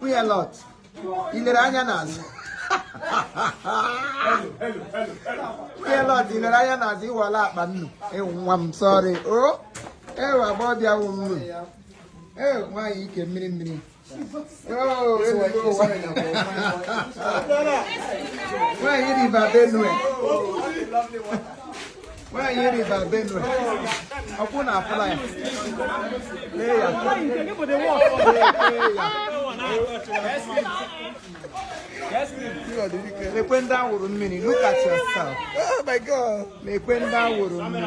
nwunye Lọt i lere anya n'azụ nwunye Lọt i lere anya n'azụ ịwala akpa nnu ewu nwa m sorry o ewu agba ọbịa wụ nnu ewu nwaanyị ike mmiri mmiri nwaanyị River Benue nwaanyị River Benue ọ kwa ụna afụla ya lee ya ekwe ndị awụrụ mmiri look at yourself oh my god ekwe ndị awụrụ mmiri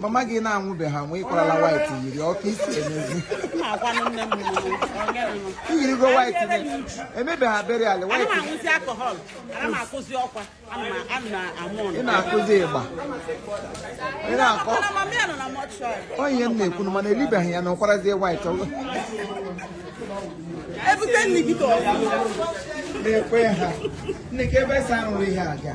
mama gị na-anwụbe ha nwe ị kwarala white yiri ọka isi emezi i yirigo white emebe ha beri ala white ị na-akụzi ịgba ị na-akọ ọ ihe m na-ekwu mana e libeghị ya na ụkwarazie white ebute nne gị ka ọ na-ekwe ha nne ka ebe sa arụrụ ihe aga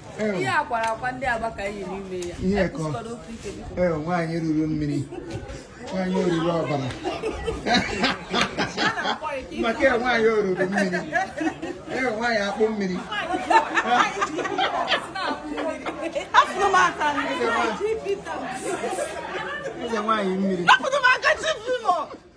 ihe a kwara akwa ndị agba ka anyị yiri ime ya ihe kọ ee nwaanyị oruru mmiri nwaanyị oruru ọbara maka ya nwaanyị oruru mmiri ee nwaanyị akpụ mmiri eze nwaanyị mmiri